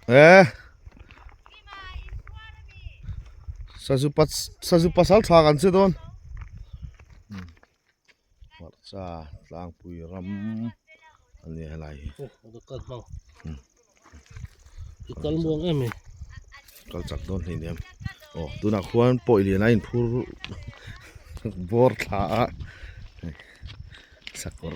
Eh. Sazu pat sazu pasal thak an se don. Marcha tlang pui ram ani halai. Kal muang em eh. Kal chak don ni em. Oh, tuna khuan poi lian ain phur bor tha a. Sakor.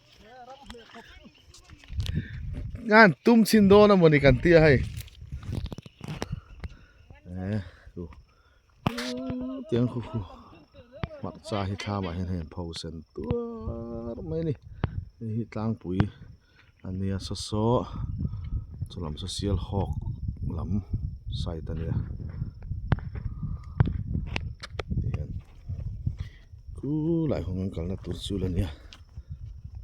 Ngan tum chhin dawn amaw ni kan tia hei eh chu tiang khu khu hmakcha hi thlamah hian hei an pho sen tuar mai a ni hei hi tlangpui a nia saw saw chu lam saw sialhawk lam side a nia tih hian. Khuu lai hawng an kalna tur chu la nia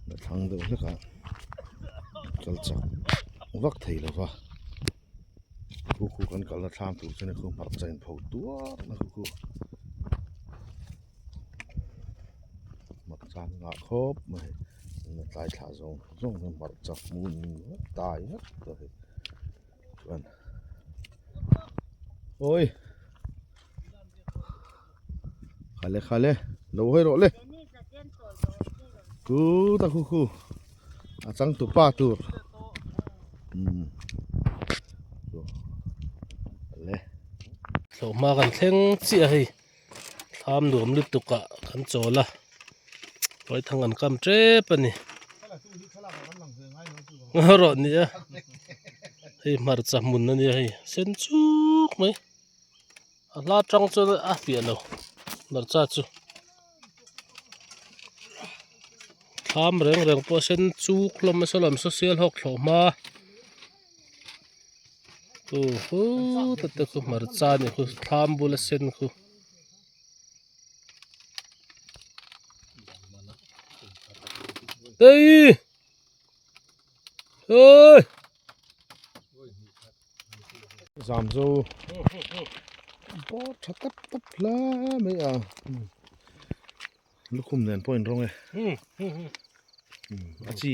la thlang deuh hlekah kal chak vak thei lova khu khu kan kalna thlang tur chu nikhum hmarcha in pho duah na khu khu hmarcha an ngah khawp mai a ni a tlai thlah zawng zawng hian hmarcha hmun in tai vek ta hi. chuan oi khale khale lo hawi rawh le tut a hu hu a chang tu pa tur umm le thlawh hma kan thleng chiah hei. thlam nuam lutukah kan chawl a rawihthang an kam tep a ni ngaw rawh a nia hei hmarcha hmun a nia hei a sen suk mai a hla tang chuan a hliah lo hmarcha chu thlam reng reng pawh a sen suk hlawm nasa lam saw sel hawk thlawh hma. Oho ta te khaw hmarcha a ni khaw thlam bula sen khaw eii hei zam zo bawr tha tap tap hle mai a lukhum nen pawh a inrawng e a chi.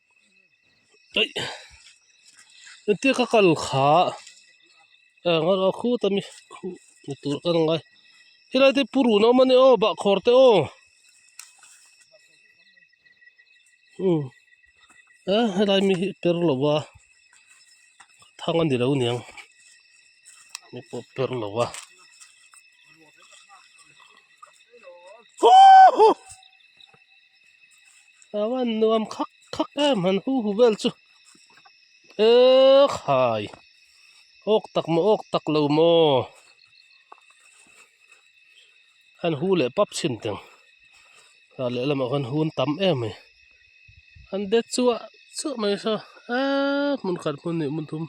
hetiang ka kal kha engemaw khut a ni hmuh tur ka la ang a helai te purun an awm a ni aw bahkhawr te aw hmm a helai ami hi per lo va thang a ni lo niang mi pawh per lo va uuhhh. a van nuam khak khak em han hu hu vel chu he khai awk tak maw awk tak lo maw han hu leh pap chhin teng a lehlam ah khan hun tam em mai han det chuah chuah mai saw a hmun khat hmun hnih hmun thum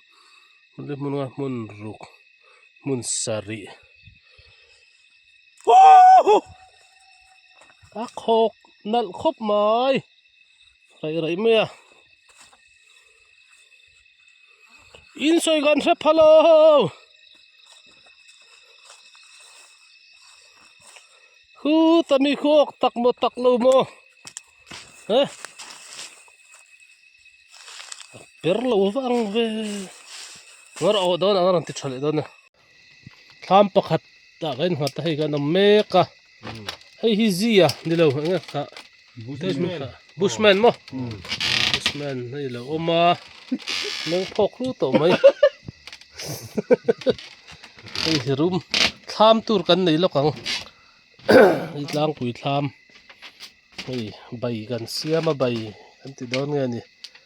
hmun ruk hmun sarih. Woohoo! A khawk nalh khawp mai raih raih mai a insawi kan hre phal o huta mi khu awk tak maw tak lo maw he a per lo vang ve ngawrah aw dawn ang a rawn ti tha leh dawn a. thlam pakhat ah kan innghat a hei kan awm mek a hei hi zia ni lo eng nge kha bush man maw bush man a ni lo awm a meng phawk hlu tawh mai hei hi room thlam tur kan nei lawk ang hei tlangpui thlam hei bai kan siam a bai kan ti dawn nge ni.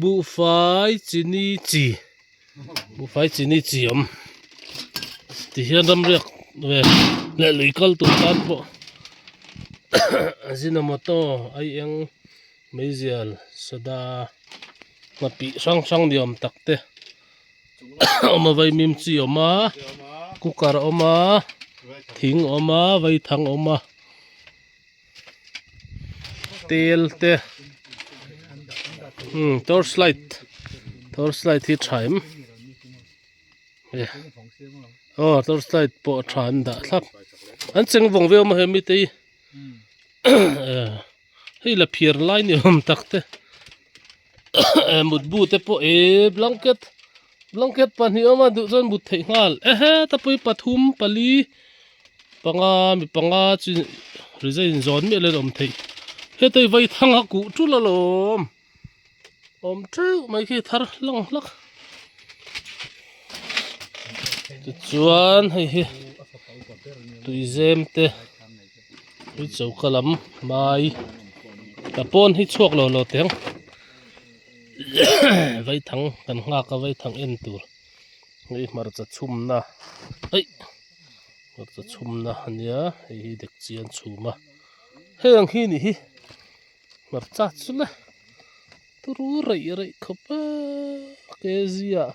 buhfai chini chi buhfai chini chi awm tih hian ramriak ve leh lui kal tur tan pawh ajinomoto aieng meizial soda hna tih hrang hrang ni awm tak te awm a vaimim chi awm a cooker a awm a thing a awm a vaithang a awm a. tel te umm torch light torch light hi tha em e aw torch light pawh tha an dah thlap an cheng vawng viau maw he mite hi hei la phiar lai ni awm tak te. mutbu te pawh e blanket blanket pahnih awm a duh chuan mut theih nghal e he tapui pathum pali panga mi panga chu rejain in zawn miahin an awm theih heta hi vai thanga kuh ṭul a lawm awm ṭeuh mai khi thar hlang hlak tichuan hei hi tuizem te. Hi choka lam hmai ta pawn hi chhuak lo lo teng vaithang kan nghak a vaithang en tur hei hmarcha chhumna aih hmarcha chhumna a nia hei hi dekchi an chhum a hei ang hi a nih hi hmarcha chu la turu raih raih khawp a kg ah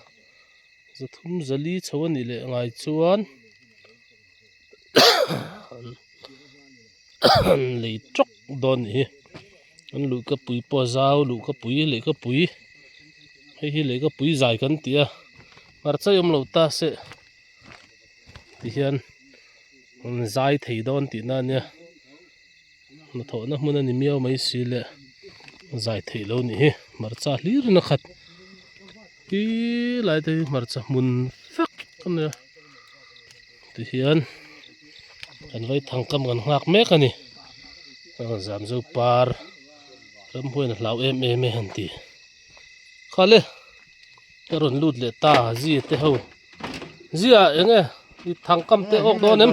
za thum zali chho a nih leh ngai chuan. an lei trawk dawn a nih hi an luhka pui pawh zau luhka pui lehka pui hei hi lehka pui zai kan tih a hmarchai awm lo ta seh tihian an zai thei dawn tihna ania. hnathawhna hmun a ni miau mai si leh zai theih loh nih hi hmarcha hlir nakhat hi lai te hi hmarcha hmun fek a nia tihian kan vai thang kam kan nghak mek a ni aw zam zo par ramhuaina hlau em em e han ti khale ka rawn lut leh ta zite ho ziah eng nge i thang kam te awk dawn em.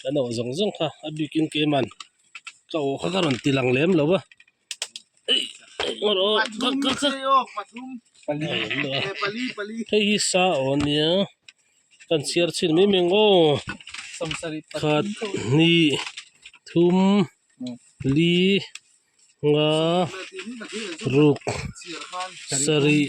ka nawh zawng zawng kha a bikin keiman ka aw kha ka rawn ti lang lem lo va engmaw rawh ka ka ka hei hi sa aw nia kan chhiar chhin mai mai ang aw khat hnih thum li nga ruk sarih.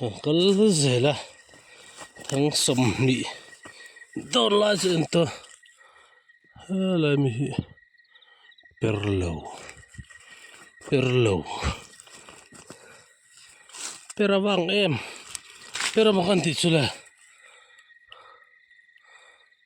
kan kal zel a thang sawmhnih dawn lai chu en tawh helai mi hi per lo per lo per avang em per avang kan tih chu le.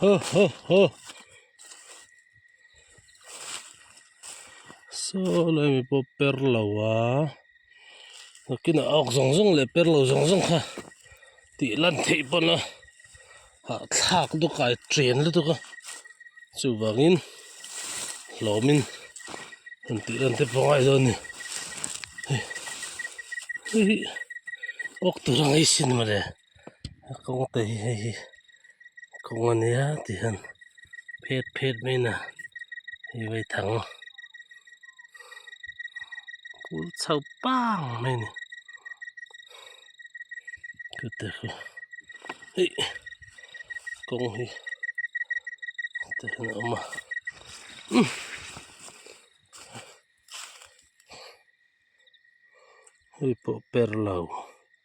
ho ho ho saw lai mi pawh per lo a takin a awk zawng zawng leh per lo zawng zawng kha tih lan theih pawn a hahthlak duka a chen lutuk a chuvangin hlawmin han tih lan te pawh a ngai dawn a ni hei hei hi awk tur ang a isin maw le. a kawng te hi hei hi kawng a nia tih hian phet phet mai in a invawi thang a kul chho pang mai a ni chu te chu eih kawng hi te hian a awm a umm.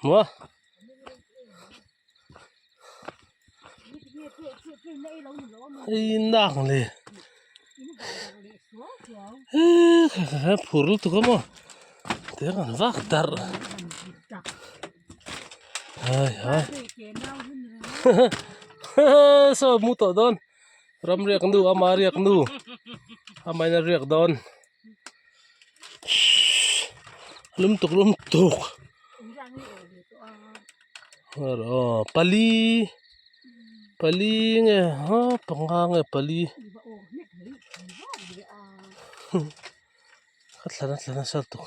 hmu a hei innak leh phur lutuk a maw tih a rawn vak darh ai ai saw mu tawh dawn ram riak nu ama riak nu amaherawh riak dawn. Shhh lum tuk lum tuk aw pali pali nge ha panga nge pali ka thla nasa tuk.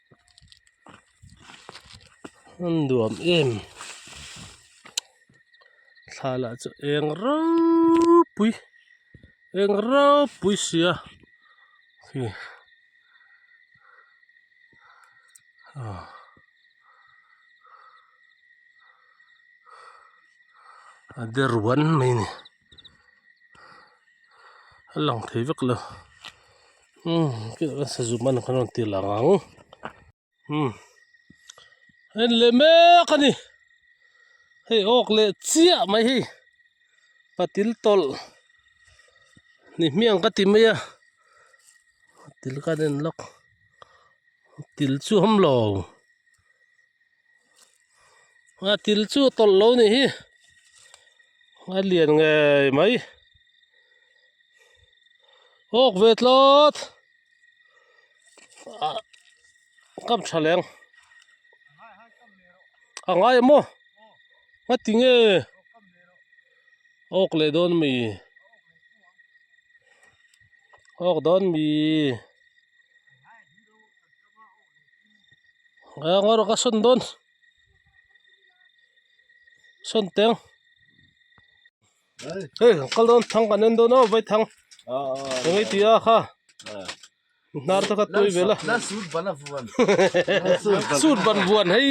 Hmun nuam em thla lah chu eng rau pui eng rau pui sia hei ah a de ruan mai a ni. a lang thei vek lo umm khileh ka hre zumna kha rawn ti alang ang umm a en leh mek a ni hei awk leh chiah mai hi patil tawlh ni hmiang ka ti mai a patil kha an en lawk patil chu awm lo. a til chu a tawlh lo ni hi a lian ngei mai awk ve tlawt ah kam tha leng a ngai maw a ti nge awk leh dawn mi awk dawn mi. aa ngaw rawh ka sawn dawn sawn teng hei ka kal dawn thang kan en dawn aw vai thang eng nge ti a kha inhnar te kha tuai ve la suit ban vuan suit ban vuan hei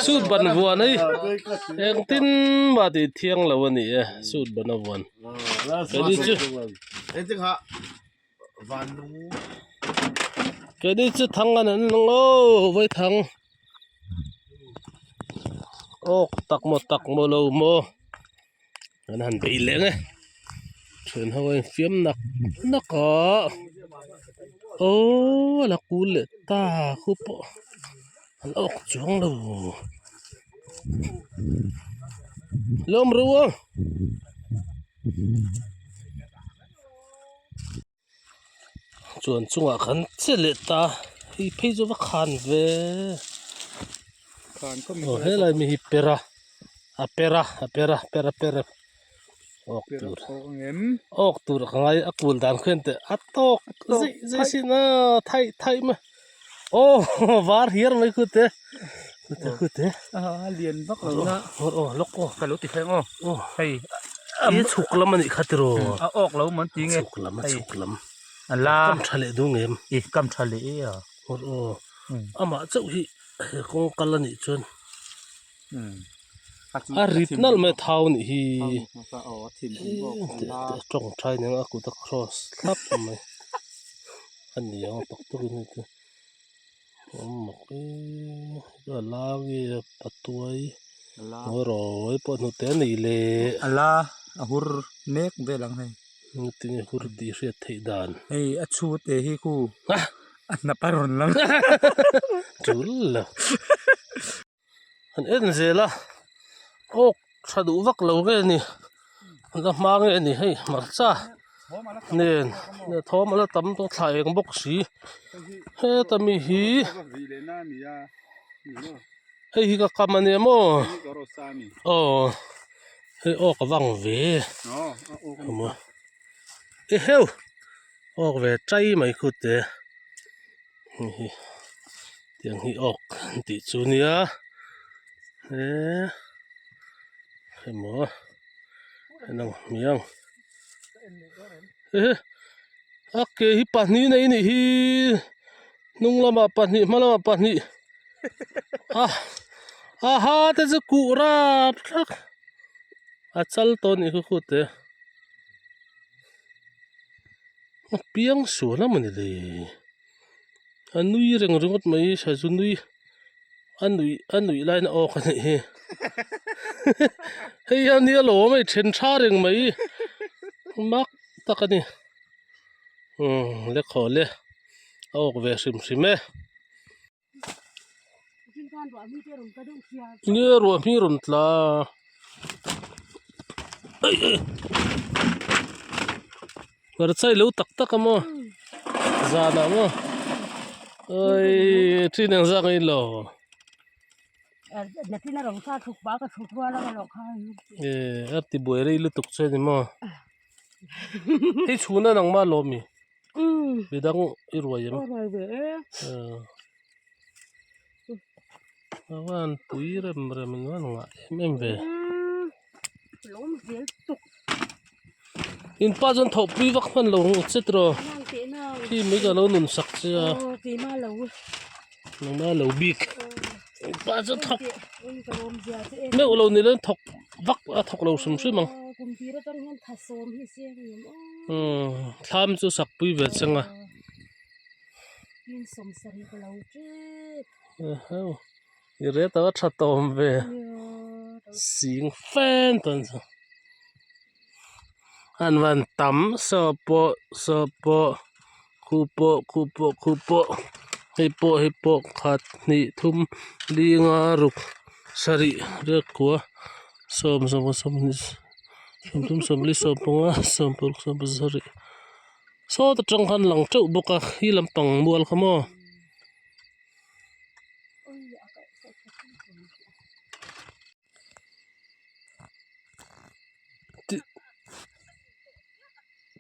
suit ban vuan hei engtin mah tih thiang lo a ni e suit ban a vuan engtin mah tih thiang lo a ni e suit ban a vuan engtin mah tih thiang lo a ni e engtin mah tih thiang lo a ni e. keini chu thang a han hmang o vai thang awk tak maw tak maw lo maw an han bei leh nge then ho a infiam nak nak a aww ala kul leh ta khup pawh an awk chuang lo hlawm ru a. chuan chungah kan che leh ta hei phei chu va khan ve aw helai mi hi per a a per a a per a per a per a awk tur awk tur ka ngai a kun dan khian teh a tawk zai zai sina thaih thaih ma. aw var hiar mai khut te khute khute a lian vak lo na aw aw lawk aw ka lo ti thleng aw aw hei a mi chhuk lam anih kha tiro a awk lo man ti nge chhuk lam a chhuk lam a la kam tha leh dung em i kam tha leh e a aw aw amah chauh hi kawngkal anih chuan a rit nalh mai a thau anih hi a tawngtai a nia a kut a cross thlap mai a ni ang a tawk tawk in heti a la nge a patuai boruai pawh hnute a nih leh a la a hur mek vel ang hei hetini hur tih hriat theih dan hei a chute hi khu a hnapa rawn lang chul la. an en zel a awk tha duh vak lo nge ni la hma nge ni hei hmarcha nen ni thawm ala tam tawh thla eng bawk si heta mi hi hei hi ka kam a nia maw aw hei awk a vang ve awmaww eheu awk ve ṭai mai khute. hehe tiang hi awk an tih chu nia eeee emaw a inang hmiang ehe a ke hi pahnih nei ni hi hnung lamah pahnih hma lamah pahnih a aha te chu kuh rap thlak a chal tawh a nih kut kut te. a piang sual a mawni le a nui reng ringawt mai sa chu nui a nui a nui laina awk a nih hi hei hian nia lo awm e then tha reng mai mak tak a ni lekhaw le a awk ve hrim hrim e. nge ruahmi rawn tla hmarchai lo tak tak a maw zan ah maw aii thin ang zak in lo e arti buai rei lutuk chuan emaw hei chhun a nang mah lawm mi. midang i ruai em ka van pui rem rem in wan ngah em em ve in pa chuan thawh pui vak hman lo che tawh khi mai ka lo nun sak che a. nuna lo bik pa chu thawk meuh lo ni lo thawk vak a thawk lo hrim hrim ang umm thlam chu sak pui ve che nga ahau i reta tha tawm ve sing fen tawn chu. an rawn tam saw pawh saw pawh khu pawh khu pawh khu pawh hei pawh hei pawh khat hnih thum li nga ruk sarih rep kua sawm sawmkha sawmkha sawmthum sawmli sawmpanga sawmpawlh sawmpahnih sawmpahnih sarih sawta tang kha an lang teuh bawk a khi lampang mual kha maw.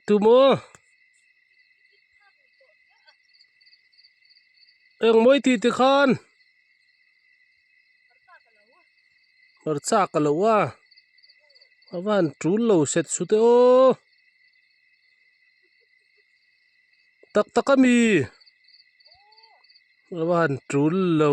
Tumaw eng mawi ti te khan hmarcha ka lo a a va han tul lo set su te aw tak tak a mi a va han tul lo.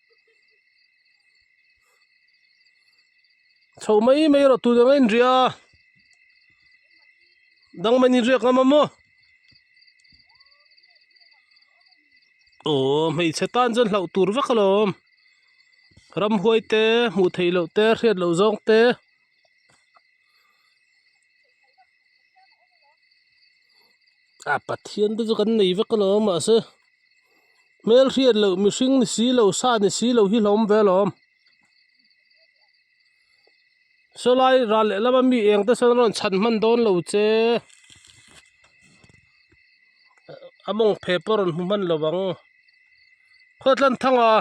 chho mai mai erawh tun anga inria dang mah inin riak ka mamawh aw aww hmeichhe tan chuan hlauh tur vek a lawm ramhuai te hmuh theih loh te hriat loh zawng te. a pathian te chu kan nei vek a lawm mahse hmel hriat loh mihring ni si lo sa ni si lo hi hlawm ve lawm saw lai ral leh lam ami eng te sawn rawn chhan hman dawn lo che a mawng phep pawh a rawn hmu hman lo ang khuatlam thanga.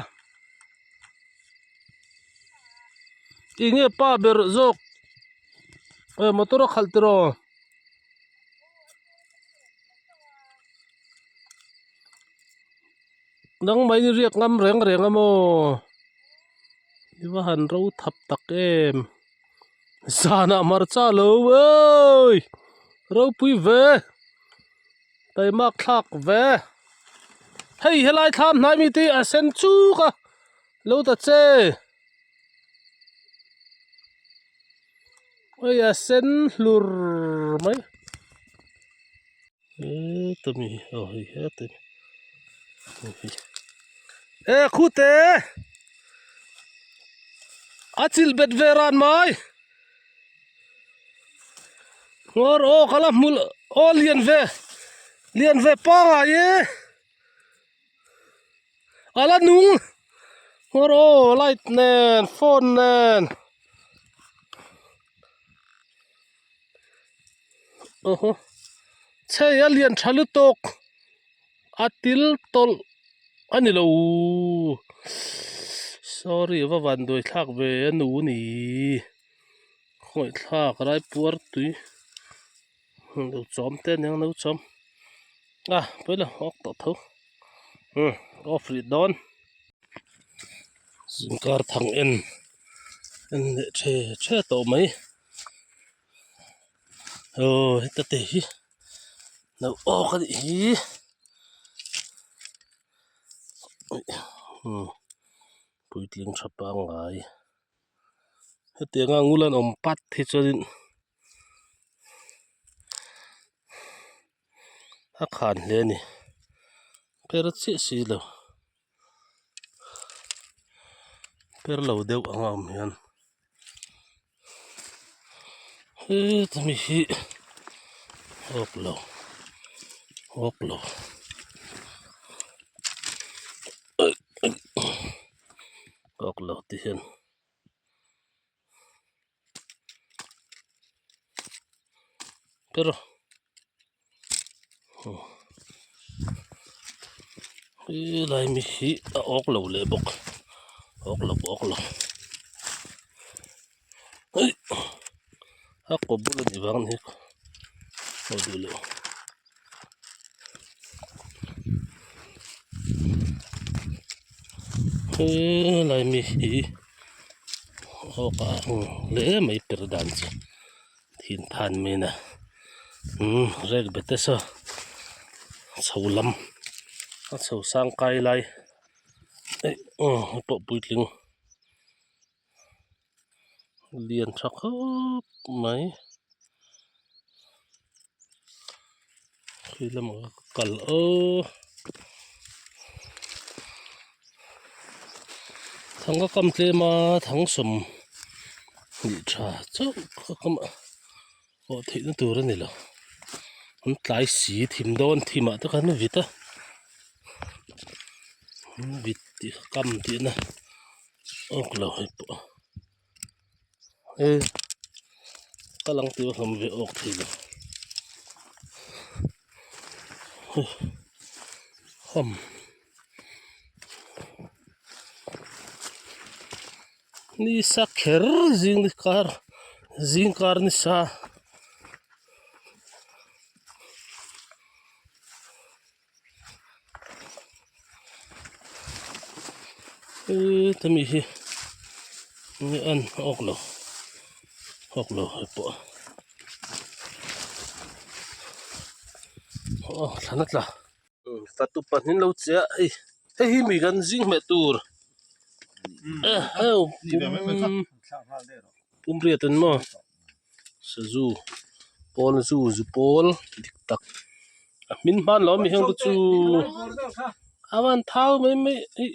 Enge pa ber zawk eh motor a khalh tel aw nangmah in riak ngam reng reng a maw i va han ro thap tak em zanah hmarcha lo eeii ropui ve. Hei mak thlak ve hei helai thla an hnaih mite hi a sen chuk a lo ta che hei a sen hlur mai chumi aw hei hetin he khute a chilh bet ve ran mai. Hawr aw ka la hmu aw lian ve lian ve pangai e a la nung hawr aw light nen phone nen oho chhei a lian tha lutuk. a til tawlh a ni lo sorry va vanduai thlak ve a nu niii khawih thlak rai puar tui hmuh duh chawm te a niang no chawm a paila awk tawh tho umm off rih dawn zin kar thang en en leh tha tha tawh mai aw heta te hi. nauh awk a nih hi umm puitling tha pangngai heti anga ngul an awm pat hi chuanin a khan hle a ni phera chiah si lo. perlo deuh anga awm hian hemi hi awk lo awk lo awk lo te hian. helai mi hi a awk lo leh bawk awk lo awk lo a kawp bawr a nih vang hi aw duh loh. helai mi hi awk a ang hle e mai per dan chu thin phan mai in a umm rek be ta saw chho lam a chho sang kai lai eih aw a pawh puitling. lian tha khawp mai khi lamah ka kal o thanga kam tlem a thangsawm hnih tha chauh ka kam a. Pawh theihna tur a ni lo an tlai si thim dawn thim ah te khan vit a an vit tih kha kam tih na awk lo hei pawh he ka lang tel hlawm ve awk thei lo hum. Ni sa kher zing ni kar zing kar ni sa. E ta mi hi ni an ok lo ok lo he po oh thlana tla. imm ka tupa hming lo che a ei hei hi mi kan zing hmeh tur eheu pum pumriat a ni maw sazu pawl zu zu pawl dik tak a hmin hman loh a mi heng te chu a van thau mai mai eih.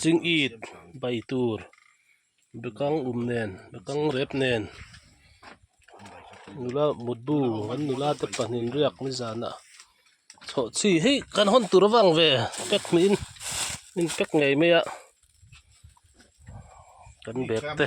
ching it bai tur bekang um nen bekang rep nen nula mutbu an nula te pahnih riak ni zan a chhawh chi hi kan hawn tur avang ve pek ni in in pek ngei mai a kan bag te.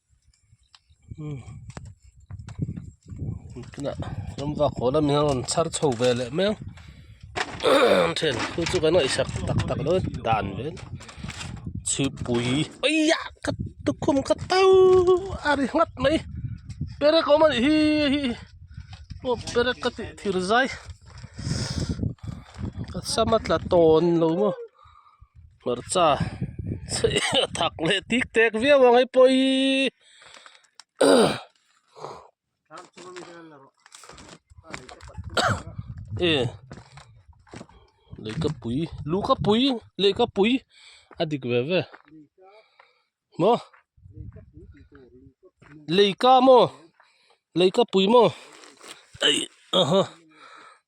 tunah ram vak haw lam hi a rawn chhar chho ve leh mai a an then thu chu kan ngaihsak tak tak mai a dan vek chhipui aiya ka tukhum ka to a ri nghat mai perak awm a nih hi hei aw perak ka tih thirzai ka sam a tla tawn lo maw. hmarcha a thak leh tik tek viau ang hei pawh hi e lei ka pui lu ka pui lei ka pui a dik ve ve maw lei ka maw lei ka pui maw eih aha.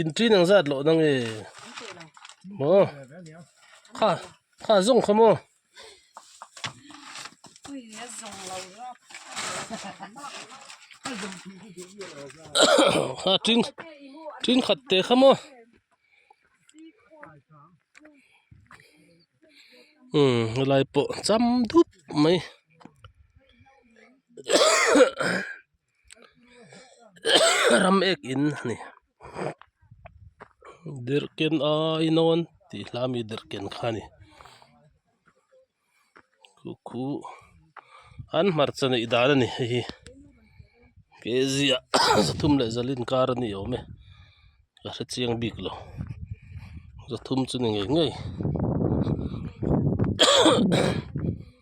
intin ang zat loh nange maw kha kha zawng khaw maw kha tin tin khat teh khaw maw umm helai pawh cham dup mai. ram ek in a ni derhken ai nawn tih hla mi derhken kha a ni khuhkhu an hmarcha neih dan a ni hei hi K Z a zathum leh zal inkar a ni awm e ka hrechiang bik lo zathum chu ni ngei ngei.